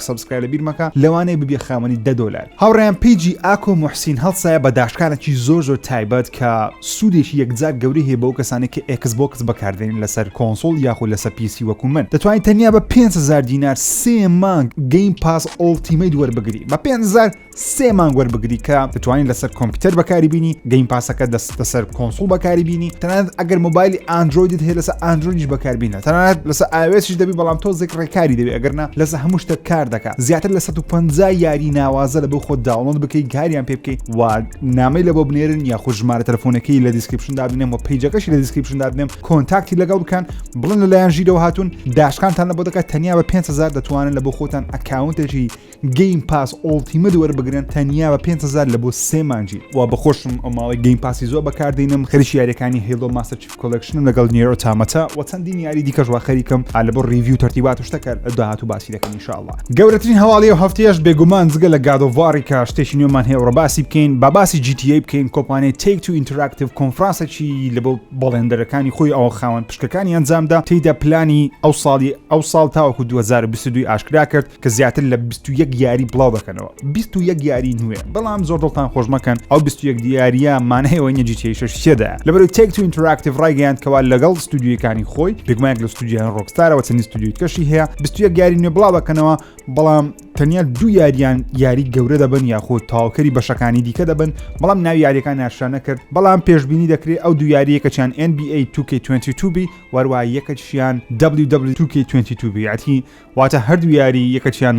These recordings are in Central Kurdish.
سەبسکرای لەبیر مەکە لەوانەیە ببیە خاوەنی دە دۆلار هاوڕێیان پیجی ئاکۆ موحسین هەڵسایە بە داشکانێکی زۆر زۆر تایبەت کە سوودێکی یەکجار گەورەی هەیە بەو کەسانی کە ئێکس بۆکس بەکاردێنین لەسەر کۆنسۆڵ یاخود لەسەر پیسی وەکو من دەتوانین تەنیا بە 500 دینار سێ مانگ گەیم پاس ئۆڵتیمەیت وەربگری بە 500 سێ مانگ وەربگری کە دەتوانین لەسەر کۆمپیوتەر بەکاری بینی گەیم پاسەکە دەست لەسەر کۆنسڵ بەکاری بینی تەنانەت ئەگەر مۆبایلی ئاندرویدت هەیە لەسەر ئاندرویدیش بەکاربیینە تەنانەت لەسەر ئاوێسیش دەبی بەڵام تۆزێک ڕێکاری دەبێت ئەگەرنا لەسە هەموو شتە کار دەکات زیاتر لە 150 یاری ناوازە لە بۆ خۆ داوڵند بکەی گاریان پێ بکەیت و نامی لە بۆ بنێرن یاخود ژمارە تەلفۆنەکەی لە دیسکرپشن دابنێم و پیجەکەشی لە دیسکرپشن دابنێم کۆنتاکتی لەگەڵ بکەن بڵن لەلایەن ژیرەوە هاتوون داشکانتان لە بۆ دەکات تەنیا بە 500 دەتوانن لە بۆ خۆتان ئەکاونتێکی گەیم پاس ئۆڵتیمەت وەربگرن تەنیا بە 5هزار لە بۆ سێ مانجی و بەخۆشم ئەو ماڵی گەیم پاسی زۆر بەکاردینم خەریکی یاریەکانی هەیڵۆ ماستەر چیف کۆلکشنم لەگەڵ نیرۆ تامەتە و چەندین یاری دیکەش وا خەریکم لە بۆ ڕیڤیو تەرتیبات و شتەکە داهاتوو باسی دەکەین انشاءاللە گەورەترین هەواڵی ئەو هەفتەیەش بێگومان جگە لە گاد ئۆف واری کە شتێکی نوێمان هەیە و ڕەباسی بکەین با باسی جی تی ئەی بکەین کۆمپانیای تەیک تو ئینتراکتیڤ کۆنفرانسێکی لە بۆ بەڵێندەرەکانی خۆی ئەوە خاوەن پشکەکانی ئەنجامدا تێیدا پلانی ئەو ساڵی ئەو ساڵ تاوەکو 2022 ئاشکرا کرد کە زیاتر لە 21 یاری بڵاو دەکەنەوە 21 یاری نوێ بەڵام زۆر دڵتان خۆش مەکەن ئەو 21 دیارە مانەیەوە نەجیتیشەشتێدا لەبەرو تێک تو ئینتراکتیڤ ڕایگەیان کەوا لەگەڵ ستودیوەکانی خۆی بگمایك لە ستودیان ڕۆکستارەوە چەندی ستودیوی کەشی هەیە 21 یاری نوێ بڵاو بەکەنەوە بەڵام تەنیا دوو یاریان یاری گەورە دەبن یاخود تاوکەری بەشەکانی دیکە دەبن بەڵام ناوی یاریەکان ناشانە کرد بەڵام پێشببینی دەکرێت ئەو دو یاریەکەچیان NBA 2K22 بی وەروە یەکەشیان WW2K22 بیاتی واتە هەردوو یاری یەکەچیان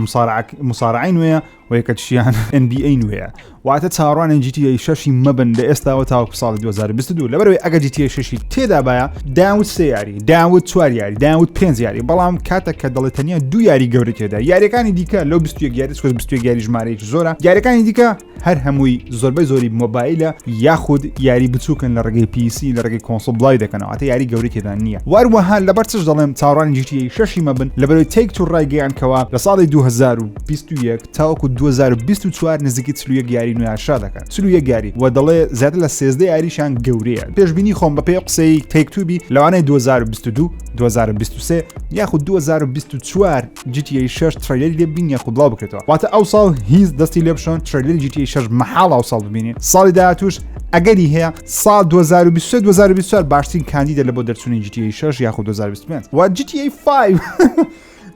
مسارعی نوێە و یەکەچیان NBA نوێە واتە چاڕوانە جیتیە شەشی مەبن لە ئێستاوە تاوەکو ساڵی 2022 لەبەرەوەی ئەگە جیتیە شەشی تێدابایە داوت سێ یاری داوت چوار یاری داوت پێنج یاری بەڵام کاتە کە دەڵێت تەنیا دو یاری گەورەێدا یاریەکانی دیکە لەو 21 یاری سوز 21 یاری ژمارەیەکی زۆرە یاریەکانی دیکە هەر هەمووی زۆربەی زۆری مۆبایلە یاخود یاری بچووکن لە ڕێگەی پیسی لە ڕێگەی کۆنسڵ بڵاوی دەکەنەوە ئەتە یاری گەوری تێدا نییە واروەها لەبەر چش دەڵێم چاڕان جیتی شەشی مەبن لەبەرەوەی تێک تو ڕایگەیان کەەوە لە ساڵی 2021 تاوەکو 2024 نزیکی چلویەک یاری نوێشا دەکەن چلویەک یاری و دەڵێ زیاتر لە سێزدە یاریشان گەورەیە پێشببینی خۆم بە پێ قسەی تێکتوبی لەوانەیە 2022 2023 یاخود 2024 جیتی شش تریلی لێ بین یاخود بڵاو بکرێتەوە واتە ئەو ساڵ هیز دەستی لێ بشۆن تریلی جیتی شش مەحاڵ ئەو ساڵ ببینین ساڵی داهاتوش ئەگەری هەیە ساڵ 2023 2024 باشترین کاندیدە لە بۆ دەرچوونی جیتی شش یاخود 2025 و جیتی 5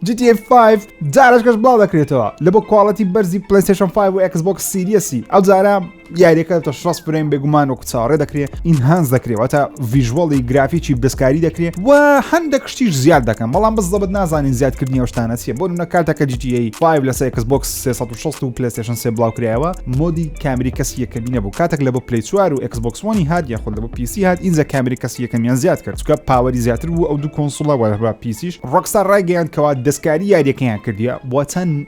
GTA 5 جارش کەش بڵاو دەکرێتەوە لە بۆ کوواڵەتی بەرزی پلیسشن 5 و Xbox سیریەسی ئەو جارە دیارەکە تە شڕاس فرەیم بێگومان وەکو چاڕێ دەکرێت ئینهانز دەکرێەوە تا ڤژوەڵی گرافیی دەستکاری دەکرێت و هەندە کشتیش زیاد دەکەم بەڵام بە زەبت نازانین زیادکردنی ئەوشتانە چیە بۆ نە کاتەکە جیجیی 5 لە سەیەکس بۆکس 360 و پلستشن سێ بڵاوکرایەوە مۆدی کامری کەسی یەکەمی نەبوو کاتێک لە بۆ پلی چوار و ئەکسبکسۆنی هاات یا خود لە بۆ پیسی هاات ئینجا کامری کەسی یەکەمیان زیاد کرد چکە پاوەری زیاتر بوو ئەو دوو کۆنسڵەوە پیسیش ڕۆکستا ڕایگەیان کەوا دەستکاری یاریەکەیان کردیە بۆ چەند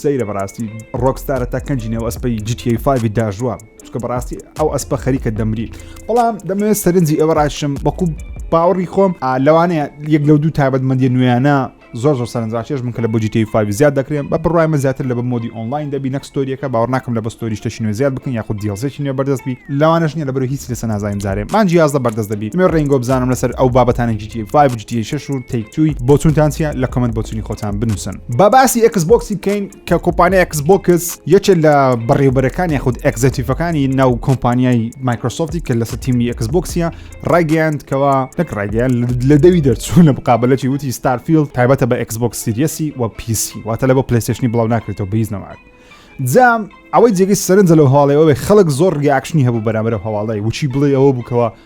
سەیرە بەڕاستی ڕۆکستارە تا کەنجی نێو ئەسپی جیتیی فاوی داژوە چکە بەڕاستی ئەو ئەسپە خەریکە دەمری بەڵام دەمەوێت سەرنجی ئێوە ڕاشم بەکو باوەڕی خۆم لەوانەیە یەک لەو دوو تایبەتمەندی نوێیانە زۆر زۆر سەرنجڕاکێش من کە لە بۆجیتی فاوی زیاد دەکرێن بە بڕایمە زیاتر لە بە مۆدی ئۆنلاین دەبی نەکسستۆریەکە باوە ناکەم لە بەستۆری شتەشی نوێ زیاد بکەن یاخود دیڵزێکی نوێ بەردەست بی لەوانش نیە لە بەر هیچ لەسە نازانین زارێ مانجی یازدە بەردەست دەبی مێ ڕێنگۆ بزانم لەسەر ئەو بابەتانە جیتی فاوی جیتی شش و تێکتوی بۆچونتان چیە لە کمنت بۆچونی خۆتان بنووسن با باسی ئەکس بۆکسی بکەین کە کۆمپانیا ئەکس بۆکس یەکێک لە بەڕێوبەرەکانی خود ئەکزەتیفەکانی ناو کۆمپانیای مایکرۆسۆفتی کە لەسە تیمی ئەکس بۆکسە ڕایگەیاند کەەوە نەک ڕایگەیان لە دەوی دەرچوو لە بقابلەی وتی ستارفیل تایبەتە بە ئەکس بۆکس سیریەسی و پیسی واتە لە بۆ پلیستشنی بڵاو ناکرێتەوە بەیز نەماک جام ئەوەی جێگەی سەرنجە لەو هەواڵەوەی خەڵک زۆر ریاکشنی هەبوو بەرامەرە هەواڵی وچی بڵێ ئەوە بووکەوە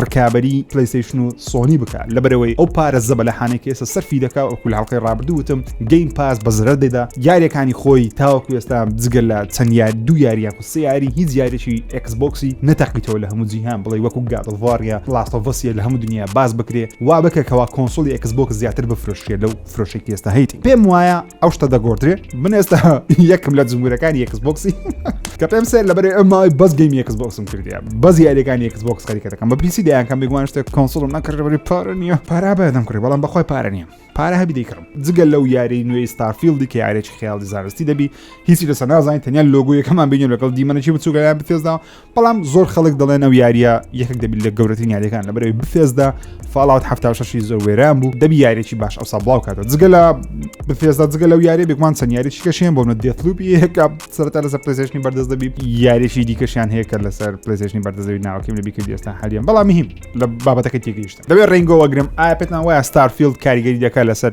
ڕکابی پلیسیشن و سۆنی بکە لەبەرەوەی ئەو پارە زەبەلەحانێک ئێستا سەرفی دەکا وەکو لە هەڵلقەی ڕابردووتم گەیم پاس بە زرە دەدا یاریەکانی خۆی تاوەکو ئێستا جگە لە چەند یار دو یاریان و سیاری هیچ یاریی ئەکسبکسی نەتەقیتەوە لە هەموو جیهان بڵێ وەکو گادڵڤاریا لاستۆڤسیە لە هەموو دنیا باز بکرێ وا بکە کەوا کۆنسۆلی ئەکسبک زیاتر بفرۆشێ لەو فرۆشێکی ئێستا هەیتی پێم وایە ئەو شتە دەگۆدرێ من ئێستا یەکم لە جمهورەکان یەکس بۆکسی کە پێم سێر لەبەر ئەمای بەس گەیم یەکس بۆکسم کردیا بەز یاریەکان یەکس بۆکس خەریکەکەم بە پیسی دەیانکەم بگوان شتێک کۆنسڵم نەکردبری پار نییە پارا بەدەم کڕی بەڵام بەخوای پارە نییە پارە هەبی دەیکڕم جگە لەو یاری نوێی ستارفیلدی کە یارێکی خیاڵی زانستی دەبی هیچی لەسە نازانین تەنیا لۆگویەکەمان بینی لەگەڵ دیمەنەی بچووگەیان بتێزدا بەڵام زۆر خەڵک دەڵێن ئەو یاریە یەکێک دەبیت لە گەورەترین یاریەکان لە بەرەوەی بفێزدا فاڵات هەفتا شەشی زۆر وێران بوو دەبی یاریی باش ئەوسا بڵاو کاتە جگە لە بفێزدا جگە لەو یاری بێکمان چەند یاریی کەشیان بۆ منە دێتلوبی یەکە سەرتا لەسەر پلسێشنی بەردەست دەبی یاریی دیکەشیان هەیە کە لەسەر پلسێشنی بەردەزەوی ناوەکەم لە بیکرد ئێستا هەریان بەڵام هیم لە بابەتەکە تێگەیشت دەبێت ڕنگەوەگرم ئاپێتان وایە ستارفیلد کاریگەری دەکات لەسەر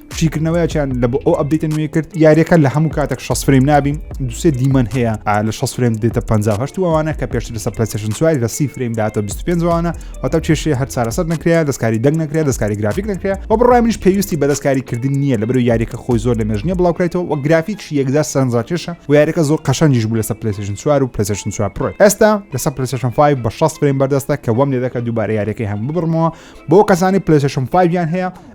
شیکردنەوەیان لە بۆ ئەو ئەبدیتە نوێ کرد یاریەکە لە هەموو کاتێک 6 فریم نابین دوسێ دیمەن هەیە لە 6 فریم دێتە 5 وانە کە پێشتر لەسەر پلسشن سواری لە سی فریم دااتە 25 وانە واتە کێشێ هەر چارەسەر نکرێت دەستکاری دەنگ نکرێت دەستکاری گرافیک نکرێت و بڕای منش پێویستی بە دەستکاری کردن نییە لە بەرو یاریەکە خۆی زۆر لە مێژنیە بڵاوکرێتەوە و گرافیک یەکدا سەرنجڕاکێشە و یاریەکە زۆر قەشەنجیش بوو لەسەر پلسشن سوار و پلسشن سوار پڕ ئێستا لەسەر پلسشن 5 بە 6 فریم بەردەستە کە وەم لێ دەکە دووبارە یاریەکەی هەم ببڕمەوە بۆ کەسانی پلسشن 5 یان هەیە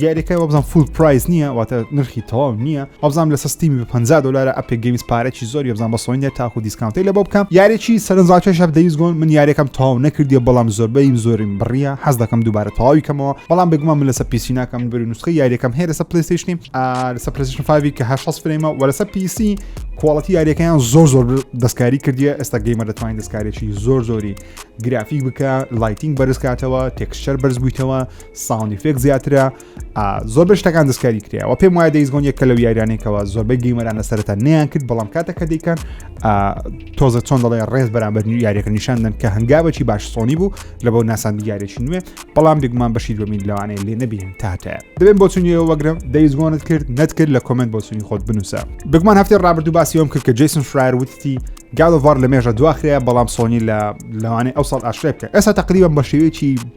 دیارەکە وابزان فول پرایز نییە واتە نرخی تەواو نییە ئەوزان لە سستیمی بە 50 دلارە ئەپێک گەیمز پارێکی زۆر یبزان بە سۆینێ تاکو دیسکانتی لە بۆ بکەم یارێکی سەرنجڕاکێش هەب دەویست گۆن من یارەکەم تاو نەکردی بەڵام زۆربەیم زۆریم بڕیە حەز دەکەم دووبارە تەواوی کەمەوە بەڵام بگومان من لەسە پیسی ناکەم بری نوسخی یاریەکەم هەیە لەسە پلیستیشنی لەسە پلیستیشن فاوی کە هە فرێمە وە لەسە پیسی کوواڵەتی یاریەکەیان زۆر زۆر دەستکاری کردیە ئێستا گەیمە دەتوانین دەستکارێکی زۆر زۆری گرافیک بکە لایتینگ بەرزکاتەوە تێکسچەر بەرزبوویتەوە ساوند ئیفێکت زیاترە ئا، زۆر بە شتەکان دەستکاری کرایەوە پێم وایە دەیس گۆن یەکە لەو یاریانێکەوە زۆربەی گەیمەران لە سەرەتا نیان کرد بەڵام کاتە کە دەیکەن ئا، تۆزە چۆن دەڵێ ڕێز بەرامبەر نوی یاریەکە نیشاندن کە هەنگاوێکی باش سۆنی بوو لە بۆ ناساندی یاریێکی نوێ بەڵام بێگومان بەشی دومین لەوانەیە لێ نەبین تاتەیە دەبێن بۆ چونیەوە وەگرم دەیس گۆنت کرد نەتکرد لە کۆمنت بۆ چونی خۆت بنووسە بگومان هەفتی ڕابردوو باسیەوەم کرد کە جیسن فرایەر وتی گاڵڤار لە مێژە دواخرەیە بەڵام سۆنی لە لەوانەیە ئەو ساڵ ئاشرێ بکە ئێستا تقریبم بە شێوەیەکی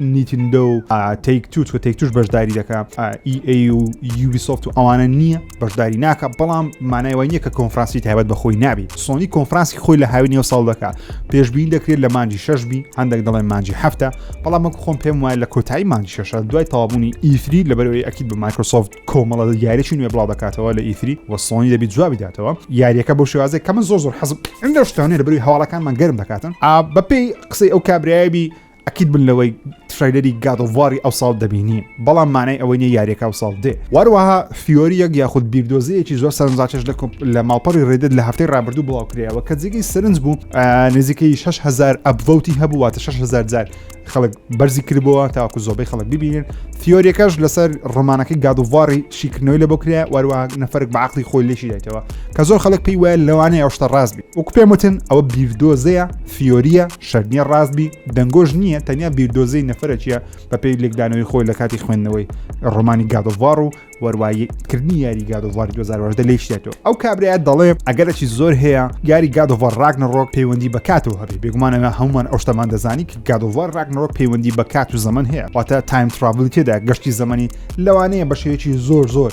نیتندۆ و تەیک تووت و تەیک توش بەشداری دەکە ئیئ و یوبیسۆفت و ئەوانە نییە بەشداری ناکە بەڵام مانای وای نییە کە کۆنفرانسی تایبەت بە خۆی نابی سۆنی کۆنفرانسی خۆی لە هاوی نێو ساڵ دەکە پێشبین دەکرێت لە مانجی شش بی هەندێک دەڵێن مانجی هەفتە بەڵام وەک خۆم پێم وایە لە کۆتایی مانجی شەشە دوای تاوابوونی ئیفری لەبەرەوەی ئەکیید بە مایکرۆسۆفت کۆمەڵە یاریی نوێ بڵاو دەکاتەوە لە ئیفری و سۆنی دەبی جوابی داتەوە یاریەکە بۆ شێوازێک کە من زۆر زۆر حەزم ئەم لە شتانێ لەبەروی هەواڵەکانمان گەرم دەکاتن ئا بەپێی قسەی ئەو کابراایبی ئەکید بن لەوەی ترایلەری گادۆڤاری ئەو ساڵ دەبینین بەڵام مانای ئەوەی نیە یاریەکە ئەو ساڵ دێ واروەها فیۆریەک یاخود بیردۆزەیەکی زۆر سەرنجاچش لە لە ماڵپەڕی ڕێدت لە هەفتەی ڕابردوو بڵاوکرایەوە کە جێگەی سەرنج بوو نزیکەی 6هزار ئەبڤوتی هەبوواتە 6هزار جار خەڵک بەرزی کردبووە تاکو زۆبەی خەڵک ببینن فیۆریەکەش لەسەر ڕۆمانەکەی گادوڤاری شیکردنەوەی لە بۆ کرا وەروە نەفرک بە عقلی خۆی لێشی دایتەوە کە زۆر خەڵک پێی وایە لەوانەیە ئەوشتە ڕاستبی وەکو پێم وتن ئەوە بیردۆزەیە فیۆریە شەرنیە ڕاست بی دەنگۆش نییە تەنیا بیردۆزەی نەفرەکیە بەپێی لێکدانەوەی خۆی لە کاتی خوێندنەوەی ڕۆمانی گادۆڤار و وەروایی کردنی یاری گادۆڤاری 2010 لێ شێتەوە ئەو کابراە دەڵێ ئەگەرەی زۆر هەیە یاری گادۆڤار ڕاگنەڕۆک پەیوەندی بە کاتەوە هەبێ بێگومانەوە هەمومان ئەو شتەمان دەزانی کە گادۆڤار ڕاگنەڕۆک پەیوەندی بە کات و زەمن هەیە واتە تایم تراڤلی تێدا گەشتی زەمەنی لەوانەیە بە شێوەیەکی زۆر زۆر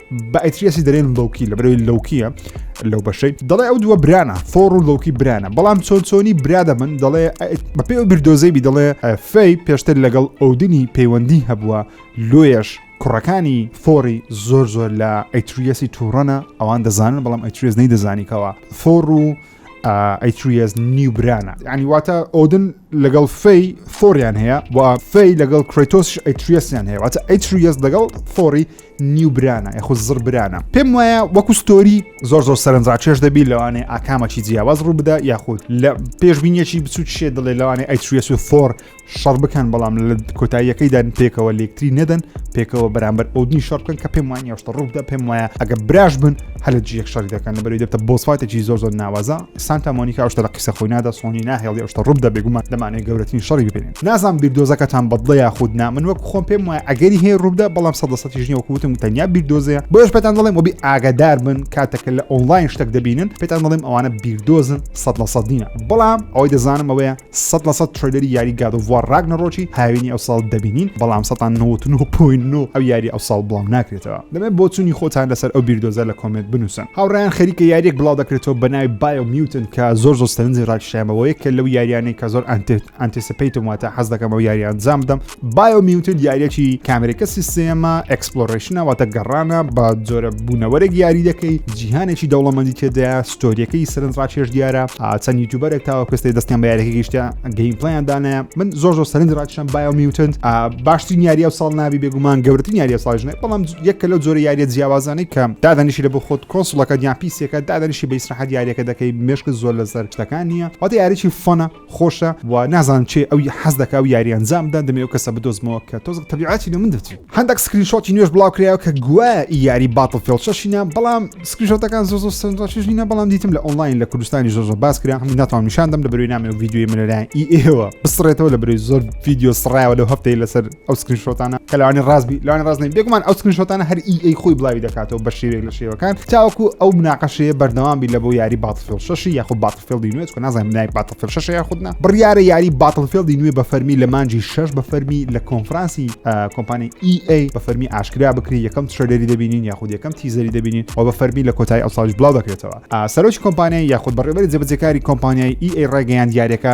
بە ئەتریەسی دەرێن لەوکی لە بەرەوەی لەوکیە لەو بەشەی دەڵێ ئەو دووە برانە فۆڕ و لەوکی برانە بەڵام چۆن چۆنی برا دەبن دەڵێ بە پێ و بیردۆزەیبی دەڵێ فەی پێشتر لەگەڵ ئەودنی پەیوەندی هەبووە لۆیەش کوڕەکانی فۆری زۆر زۆر لە ئەتریەسی تووڕەنە ئەوان دەزانن بەڵام ئەتریێز نەی دەزانیکەوە فۆڕ و ئەیتریەس نیو برانە ینی واتە ئۆدن لەگەڵ فەی فۆریان هەیە و فەی لەگەڵ کرێتۆس ئەیتریەسیان هەیە واتە ئەیتریەس لەگەڵ فۆری نیو برانە یخو زڕ برانە پێم وایە وەکو ستۆری زۆر زۆر سەرنجڕاکێش دەبی لەوانێ ئاکامەکی جیاواز ڕوو بدا یاخود لە پێشبینیەکی بچوت شێ دڵێ لەوانێ ئەیتریەس و فۆر شەڕ بکەن بەڵام لە کۆتاییەکەیدا پێکەوە لەکتری نەدەن پێکەوە بەرامبەر ئەودنی شەڕ بکەن کە پێم وان یاشتە ڕوودا پێم وایە ئەگە براش بن هەلە جیەک شەڕی دەکەن لە بەری دەبتە بۆسفاتێکی زۆر زۆر ناوازە سانتا مۆنیکا شتە لە قسە خۆی نادا سۆنی ناهێڵی شتە ڕوودا بێگومان دەمانێت گەورەترین شەڕی ببینێت نازان بیردۆزەکەتان بەدڵە یاخود نا من وەک خۆم پێم وایە ئەگەری هەیە ڕوودا بەڵام سەدەسەتی ژنی وەکوتم تەنیا بیردۆزەیە بۆش پێتان دەڵێم وەبی ئاگادار بن کاتەکە لە ئۆنلاین شتێک دەبینن پێتان دەڵێم ئەوانە بیردۆزن سەد لە سەدینە بەڵام ئەوەی دەزانم ئەوەیە سەد لە سەد ترەیلەری یاری گاد ئۆف وار ڕاگنەڕۆکی هاوینی ئەوساڵ دەبینین بەڵام سەتا نەوەد و نۆ پۆینت نۆ ئەو یاری ئەوساڵ بڵاو ناکرێتەوە دەمەوێت بۆچوونی خۆتان لەسەر ئەو بیردۆزە لە کۆمێنت بنووسن هاوڕێیان خەریکە یاریەک بڵاو دەکرێتەوە بە ناوی بایۆ میوتن کە زۆر زۆر سەرنجی ڕاکشایەوە یەکێک لەو یاریانەی کە زۆر ئەنتێت ئەنتیسپەیتم واتە حەز دەکەم ئەو یاری ئەنجام بدەم بایۆمیوتد یاریەکی کامێرەکە سیستێمە ئەکسپلۆرەیشنە واتە گەڕانە بە جۆرە بوونەوەرێک یاری دەکەی جیهانێکی دەوڵەمەندی تێدایە ستۆریەکەی سەرنج ڕاکێش دیارە چەند یوتوبەرێک تاوە پێستی دەستیان بە یاریەکە گەیشتە گەیم پلیان دانایە من زۆر زۆر سەرنج ڕاکشم بایۆمیوتند باشترین یاریە ساڵ ناوی بێگومان گەورترین یاریە ساژنێ بەڵام یەکە لەو جۆرە یاریە جیاوازانەی کەم دادەنیشی لە بۆ خۆت کۆسڵەکە دیان پیسەکە دادەنیشی بە ئیسراحەت یاریەکە دەکەی مشک زۆر لەسەر شتەکان نییە واتە یاریی فۆنە خۆشە و نازانم چێ ئەوی حەز دەکا ئەو یاری ئەنجام بدەن دەمێ ئەو کەسە بدۆزمەوە کە تۆزێک تەبیعەتی لە من دەچی هەندێک سکرین شۆتی نوێش بڵاو کرایەوە کە گوایە ئی یاری باتڵ فێڵ شەشینە بەڵام سکرین شۆتەکان زۆر زۆر سەرنجڕاکێش نینە بەڵام دیتم لە ئۆنلاین لە کوردستانی زۆر زۆر باس کرا هەموو ناتوانم نیشان دەم لە بەروی نامێ و ڤیدیۆی من لەلایەن ئی ئێوە بسڕێتەوە لە بەروی زۆر ڤیدیۆ سڕایەوە لەو هەفتەی لەسەر ئەو سکرین شۆتانە کە لەوانی ڕاستبی لەوانی ڕاست نین بێگومان ئەو سکرین شۆتانە هەر ئی ئەی خۆی بڵاوی دەکاتەوە بە شێوێک لە شێوەکان تاوەکو ئەو مناقەشەیە بەردەوام بی لە بۆ یاری باتفیل شەشی یاخو باتفیلدی نوێت کە نازانم نای باتفیل شەشە یا خودنا بڕیارە یاری باتفیلدی نوێ بە فەرمی لە مانجی شەش بە فەرمی لە کۆنفرانسی کۆمپانی ئی ئەی بە فەرمی ئاشکرا بکری یەکەم ترێدەری دەبینین یاخود یەکەم تیزەری دەبینین و بە فەرمی لە کۆتایی ئەو ساڵش بڵاو دەکرێتەوە سەرۆکی کۆمپانیای یاخود بەڕێبەری جەبەجەکاری کۆمپانیای ئی ئەی ڕێگەیان دیارەکە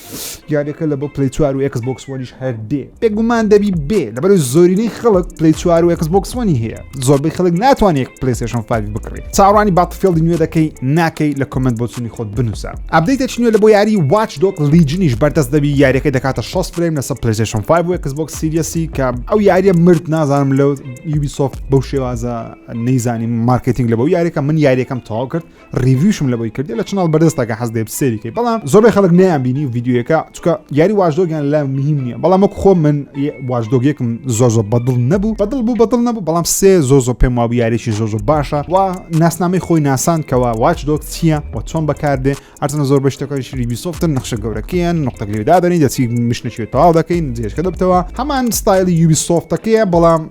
یاریەکە لە بۆ پلی چوار و ئەکس بۆکسوانیش هەر دێ بێگومان دەبی بێ لەبەر زۆرینەی خەڵک پلی چوار و ئەکس بۆکسوانی هەیە زۆربەی خەڵک ناتوانێت پلیسشن فاوی بکڕی چاڕانی باتفێڵدی نوێ دەکەی ناکەی لە کمنت بۆچنی خۆت بنووسە ئەبدەیتە چنوێ لە بۆ یاری واچ دۆک لیجنیش بەردەست دەبی یاریەکە دەکاتە 6 فریم لەسەر پلیسشن 5 و ئەکس بۆکس سیریەسی کە ئەو یاریە مرد نازانم لەو یوبی سۆفت بەو شێوازە نەیزانی مارکتینگ لە بەو یاریەکە من یاریەکەم تەواو کرد ریویشم لە بۆی کردی لە چناڵ بەردەستەکە حەز دێ سێریکەی بەڵام زۆر خەڵک نیان بینی و یددیوەکە چکە یاری واژدۆگیان لە مهم نییە بەڵام وەک خۆ من واژدۆگێکم زۆر زۆر بەدڵ نەبوو بەدڵ بوو بەدڵ نەبوو بەڵام سێ زۆ زۆ پێم وابوو یاریی زۆ زۆ باشە و ناسنامەی خۆی ناسان کەەوە واچ دۆک چییە و چۆن بەکاردێ ئەرزنە زۆر بەشتەکەی شری بیسۆفتن نەخشە گەورەکەیان نقطە لێدادەنی دەچی مشنەشێت تەواو دەکەین جێشکە دەبتەوە هەمان ستایلی یوبی سۆفتەکەیە بەڵام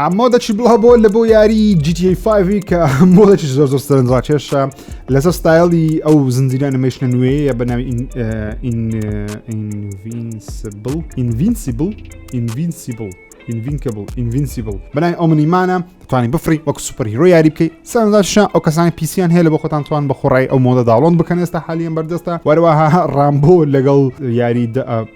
ئەمە دەچی بڵا بۆ لە بۆ یاری GTA 5 کە مۆڵێکی زۆر زۆر سەرنجڕاکێشە لەسەر ستایلی ئەو زنجیرە نمەشنە نوێیە بە ناوی ئینڤینسبل ئینڤینسیبل ئینڤینسیبل ئینڤینکەبل ئینڤینسیبل بەنای ئەو منیمانە توانی بفری وەک سوپەر هیرۆ یاری بکەیت سەرنجاشە ئەو کەسانی پیسیان هەیە لە بۆ خۆتان توان بە خۆڕای ئەو مۆدە داڵۆن بکەن ئێستا حالیان بەردەستە وەرەوەها ڕامبۆ لەگەڵ یاری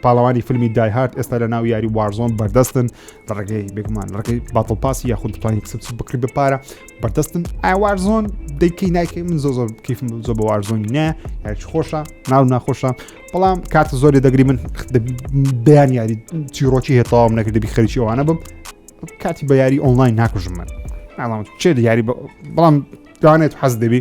پاڵەوانی فیلمی دایهات ئێستا لە ناو یاری وارزۆن بەردەستن لە ڕێگەی بێگومان ڕێگەی باتڵ پاسی یاخود دەتوانین کسب سوود بکری بە پارە بەردەستن ئاوارزۆن دەیکەی نایکەی من زۆ زۆر کیفم زۆ بە وارزۆن نە یاچ خۆشە ناو ناخۆشە بەڵام کاتە زۆری دەگری من بیان یاری چیرۆکی هێتاوام نەکردبی خەریکی ئەوانە بم کاتی بە یاری ئۆنلاین ناکوژم من ئەڵام چێ یاری بەڵام دوانێت حەز دەبی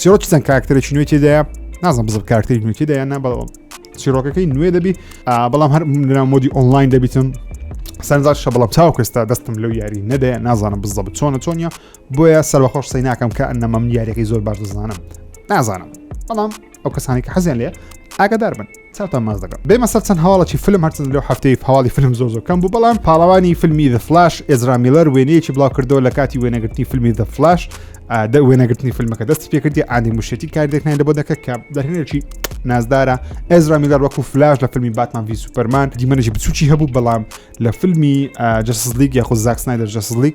چیرۆک چەند کاکتەرێکی نوێی تێدایە نازم بزب کاکتەری نوێ تێدا یان نابڵەوە چیرۆکەکەی نوێ دەبی بەڵام هەر منران مۆدی ئۆنلاین دەبیتم سەرزار شە بەڵام چاو کەستا دەستم لەو یاری نەدەیە نازانم بزە چۆنە چۆنیە بۆیە سەربەخۆش سی ناکەم کە ئەنەمەم یاریەکەی زۆر باش دەزانم نازانم بەڵام ئەو کەسانی کە حەزیان لێ ئاگدار بن چاوتان ماچ دەکەم بێمە سەر چەند هەواڵەکی فلم هەرچەند لەو هەفتەی هەواڵی فلم زۆر زۆر کەم بوو بەڵام پاڵەوانی فلمی The Flash ئێزرا میلەر وێنەیەکی بڵاوکردەوە لە کاتی وێنەگرتنی فلمی The Flash دە وێنەگرتنی فیلمەکە دەستی پێکردی ئانی مشێتی کاردێکنای لە بۆ دەکە کە دەرهێنێکی نازدارە ئێزرا میلەر وەکو فلاش لە فیلمی باتمان وی سوپەرمان دیمەنێکی بچوکی هەبوو بەڵام لە فیلمی جەسلیک یاخود زاکسنای دەژەسلیک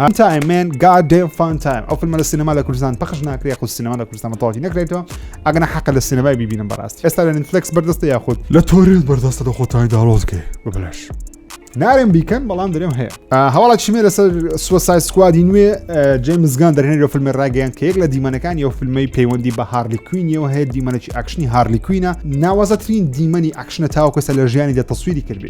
هەم تایم مێن گاد دێم فان تایم ئەو فیلمە لە سینەما لە کوردستان پەخش ناکرێ خو سینەما لە کوردستان تەواوی نەکرێتەوە ئەگەنا حەقە لە سینەمای ببینم بەڕاستی ئێستا لە نتفلکس بەردەستە یاخود لە تۆرنت بەردەستە لە خۆتانی داڵۆزگێ ببلش نارم بیکەن بەڵام درێم هەیە هەواڵە چیمێ لەسەر سوسای سکوادی نوێ جێمزگان دەرێنێت لە فیلمی ڕاگەیان کە یەک لە دیمەنەکان یو فیلمی پەیوەندی بە هارلی کوینیەوە هەیە دیمەنێکی ئەکشنی هارلی کوینە ناوازەترین دیمەنی ئەکشنە تاوکەسە لە ژیانی دە تەسویری کردی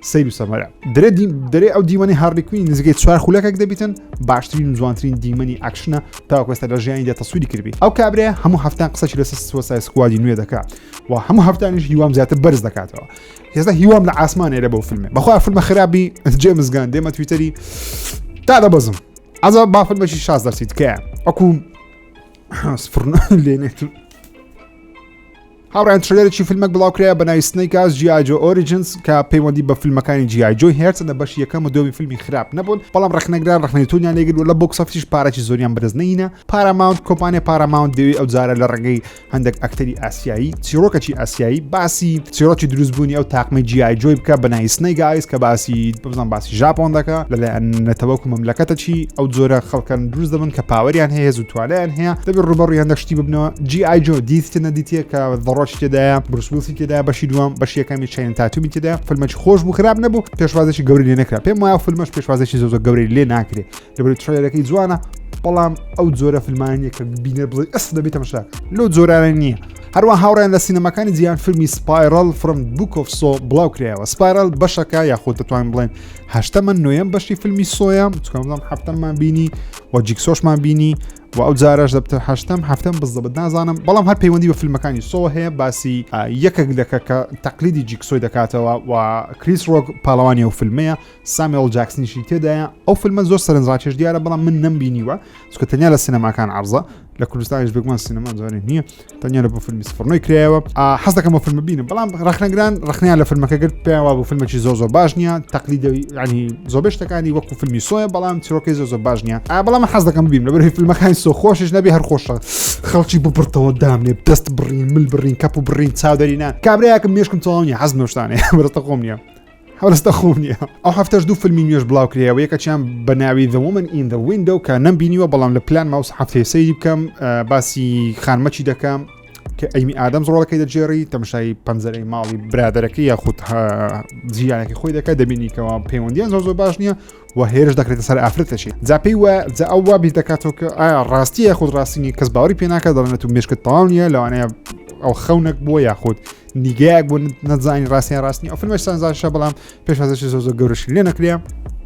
سەیر و سەمەرە درێ درێ ئەو دیمەنی هاڕلیکوین نزیکەی چوار خولەکەک دەبیتن باشترین و جوانترین دیمەنی ئەکشنە تاکۆستە لە ژیانی دە تەسووری کردی ئەو کابرێ هەموو هەفتان قسەی لەسەر سوسای سکوادی نوێ دەکات و هەموو هەفتانیش هیوام زیاتر بەرز دەکاتەوە هێزە هیوام لە ئاسمانێ لە بۆ فیلمێ بەخوا فیلمە خراپی جێ مزگان دێمە تویتەری تا دەبەزم ئەزا بافل بەشی شاز دەرسی تکایە ئەکوم سفرنا لێنێت هاوڕێیان ترلەرێکی فیلمەک بڵاوکرایە بە ناوی سنەیکاس جیاجۆ ئۆریجنس کە پەیوەندی بە فیلمەکانی جیاجۆی هێرتن لە بەش یەکەم و دۆمی فیلمی خراپ نەبوون بەڵام ڕخنەگران ڕخنەی تونیان لێگر و لە بۆکسەفیش پارەی زۆریان بەدەست نینە پاراماونت کۆمپانیا پاراماونت دەوێت ئەو جارە لە ڕێگەی هەندێک ئەکتەری ئاسیایی چیرۆکەکی ئاسیایی باسی چیرۆکی دروستبوونی ئەو تاقمەی جیاجۆی بکە بە ناوی سنەیگایس کە باسی بزان باسی ژاپۆن دەکە لەلایەن نەتەوەک و مەملەکەتە چی ئەو جۆرە خەڵکەن دروست دەبن کە پاوەریان هەیە زوو توانیان هەیە دەبێت ڕوبەڕیان دەشتی ببنەوە جی ئایجۆ دیتە نەدیتە کە دەڕۆژ تێدایە بروسوسی تێدا بەشی دووەم بەشی یەکەمی چین تاتومی تێدا فلمەکی خۆش بوو خراپ نەبوو پێشوازێکی گەوری لێ نەکرا پێم وایە فلمەش پێشوازێکی زۆزە گەوری لێ ناکرێت دەبێت ترەیەرەکەی جوانە بەڵام ئەو جۆرە فیلمانیە کە بینەر بڵێ ئەس دەبێت تەمەشا لەو جۆرانە نییە هەروە هاوڕێن لە سینەمەکانی جیان فیلمی سپایرل فرم بوکۆفسۆ بڵاو کرایەوە سپایرل بەشەکە یاخود دەتوان بڵێن هەشتەمە نوێم بەشی فیلمی سۆیان بچکەمڵام هەفتەمان بینی و جیکسۆشمان بینی و ئەو جارەش دەبتە هەشتم هەفتم بزدەبت نازانم بەڵام هەر پەیوەندی بە فیلمەکانی سۆ هەیە باسی یەکێک لەکە کە تەقلیدی جیکسۆی دەکاتەوە و کریس ڕۆک پاڵەوانی و فیلمەیە سامیۆڵ جاکسنیشی تێدایە ئەو فیلمە زۆر سەرنجڕاکێش دیارە بەڵام من نەمبینیوە چکە تەنیا لە سینەماکان عرضە لە کوردستانیش بگومان سینەما جارێ نییە تەنیا لە بۆ فیلمی سفرنەوەی کرایەوە حەز دەکەم بە فیلم بینم بەڵام ڕخنەگران ڕخنیان لە فیلمەکە گرت پێیانوا بۆ فیلمێکی زۆر زۆر باش نییە تەقلی ینی زۆبێ شتەکانی وەکو فیلمی سۆیە بەڵام چیرۆکی زۆر زۆر باش نییە ئا بەڵام حەز دەکەم بیم لە بەرهی فیلمەکانی سۆ خۆشش نەبێ هەر خۆشە خەڵکی بپڕتەوە دامنێ دەست بڕین مل بڕین کەپ و بڕین چاودەرینان کابراەکەم مێشکم تەواو نیە حەز نوشتانێ بەرەتە خۆم نیە هەڵستە خۆم نییە ئەو هەفتەش دوو فیلمی نوێش بڵاو کرێەوە یەکەچیان بە ناوی دەومن ئین دە وینندە و کە نەم بینیوە بەڵام لە پلان ماوس هەفتەی سەیری بکەم باسی خانمەچی دەکەم کە ئەیمی ئادەم زۆڵەکەی دەجێڕی تەمشای پەنجەرەی ماڵی برادەرەکە یاخود جیانەکە خۆی دەکات دەبینیکەوە پەیوەندیان زۆ زۆ باش نییە و هێرش دەکرێتە سەر ئافرەتەشی جاپی وە جا ئەو وا بیر دەکاتەوە کە ئایا ڕاستیە خود ڕاستینی کەس باوەری پێناکە دەڵێت و مشکت تاڵ نیە لەوانەیە ئەو خەونەک بووە یاخود نیگایەک بۆ نەزانانی ڕاستیان ڕاستنی ئەو فیلمە سانزاشە بەڵام پێشازشی زۆ زۆر گەورەش لێ نەکرێ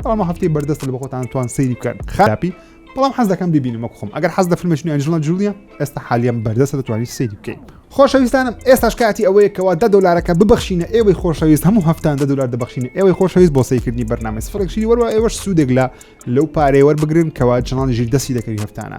بەڵام هەفتی بەردەست لە بەخۆتان توان سەیری بکەن خراپی بەڵام حەز دەکەم ببینم وەک خۆم ئەگەر حەز دە فیلمشنی ئەنجڵە جولیە ئێستا حالیان بەردەستە دەتوانانی سەیری بکەین خۆشەویستانم ئێستاش کاتی ئەوەیە کەوا دە دلارەکە ببخشینە ئێوەی خۆشەویست هەموو هەفتان دە دلار دەبخشینە ئێوەی خۆشەویست بۆ سەیکردنی بەرنامەی سفرێکشی وەروە ئێوەش سوودێک لە لەو پارەیەوە بگرن کەوا چنان ژیر دەستی دەکەوی هەفتانە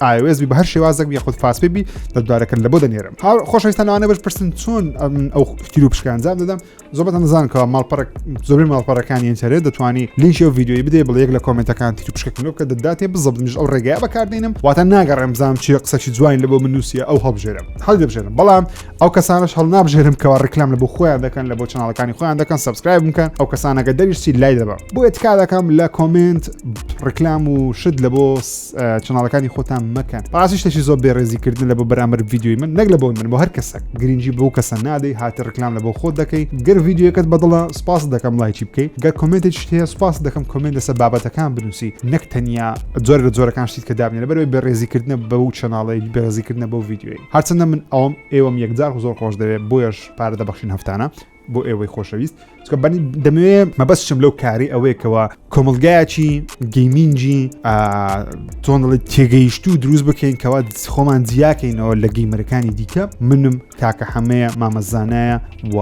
iOS بی بە هەر شێوازێک بی خود فاسپی بی دەدارەکەن لە بۆ دەنێرم هاو خۆشەویستان لەوانە بەش پرسن چۆن ئەو کتیر و پشکانجام دەدەم زۆبەت ئەمزان کە ماڵپەرک زۆری ماڵپەرەکانی ئینتەرێت دەتوانی لینکی و ویددیوی بدەی بڵ یەک لە کۆمنتەکان تیر پشکەکەنەوە کە دەداتێ بزبنیش ئەو ڕێگای بەکاردێنم واتە ناگەڕێم بزانم چی قسەکی جوین لە بۆ منوسیە ئەو هەڵبژێرم هەڵ دەبژێرم بەڵام ئەو کەسانش هەڵنابژێرم کەوا ڕیکلام لە بۆ خۆیان دەکەن لە بۆ چناڵەکانی خۆیان دەکەن سبسکرایب بکەن ئەو کەسانەکە دەریشتی لای دەبە بۆ ئێتکا دەکەم لە کۆمنت ڕیکلام و شت لە بۆ چناڵەکانی خۆتان مەکەن ڕاستی شتێکی زۆر بێڕێزیکردن لە بۆ بەرامبەر ویددیوی من نەک لە بۆ من بۆ هەر کەسە گرنگجی بۆ کەسە نادەی هاتە ڕیکلام لە بۆ خۆت دەکەی گەر ویددیوەکەت بەدڵە سپاس دەکەم لایکی بکەیت گەر کۆمنتی شتێ سپاس دەکەم کۆمنت لەسەر بابەتەکان بنووسی نەک تەنیا جۆر لە جۆرەکان شتیت کە دابنێ لەبەرەوەی بێڕێزیکردنە بەو چناڵی بێڕێزیکردنە بۆ ویددیوی هەرچەندە من ئەوم ئێوەم یەکجار زۆر خۆش دەوێت بۆیەش پارە دەبەخشین هەفتانە بۆ ئێوەی خۆشەویست چکە بەنی دەمەوێ مەبەستشم لەو کاری ئەوەیەکەوە کۆمەلگایەکی گەیمینجی تۆنڵی تێگەیشت و دروست بکەین کەوا خۆمان جیاکەینەوە لە گەیمەرەکانی دیکە منم کاکە حەمەیە مامەزانایە و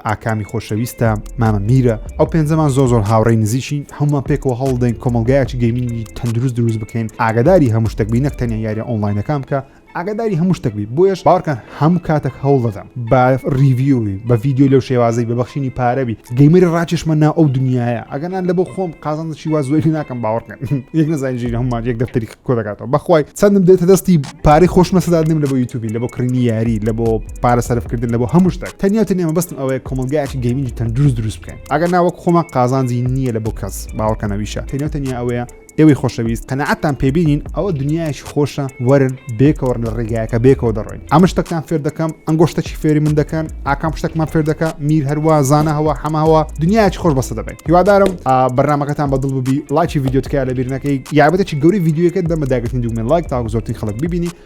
ئاکامی خۆشەویستە مامە میرە ئەو پێنجەمان زۆ زۆر هاوڕێی نزیشی هەمومان پێکەوە هەوڵدەین کۆمەلگایەکی گەیمینی تەندروست دروست بکەین ئاگداری هەموو شتەک بینەک تەنیا یاریە ئۆنلاینەکان بکە ئاگاداری هەموو شتێک بی بۆیش باوەکە هەموو کاتێک هەوڵ دەدەم بە ریڤیوی بە ڤیددیو لەو شێوازی بە بەخشینی پارەبی گەیمەری ڕاکێشمە نا ئەو دنیاە ئەگەنان لە بۆ خۆم قازانشی وا زۆری ناکەم باوەڕکەن یەک نزانجی هەمومان یەک دەفتەری کۆ دەکاتەوە بەخوای چەندم دێتە دەستی پارەی خۆشمە سەدادنم لە بۆ یوتوبی لە بۆ کڕینی یاری لە بۆ پارە سەرفکردن لە بۆ هەموو شتێک تەنیا تەنێمە بەستم ئەوەیە کۆمەلگایکی گەیمنجی تەندروست دروست بکەین ئەگەر ناوەک خۆمان قازانجی نییە لە بۆ کەس باوەکەنەویشە تەنیا تەنیا ئەوەیە ئێوەی خۆشەویست قەناعەتتان پێ بینین ئەوە دنیایەکی خۆشە وەرن بێکەوەڕ لە ڕێگایەکە بێکەوە دەڕۆین ئەمە شتەکان فێر دەکەم ئەنگۆ شتەکی فێری من دەکەن ئاکام شتەکمان فێر دەکە میر هەروە زانە هەوە حەماوە دنیایکی خۆش بەسە دەبێت هیوادارم بەرنمەکەتان بەدڵ ببی ڵاکی یددیوتکە لە بیرنەکەی یابەتێکی گەوری یددیوەکە دەمە داگرتنی دوگمە لایک تاکو زۆرترین خەڵک ببینی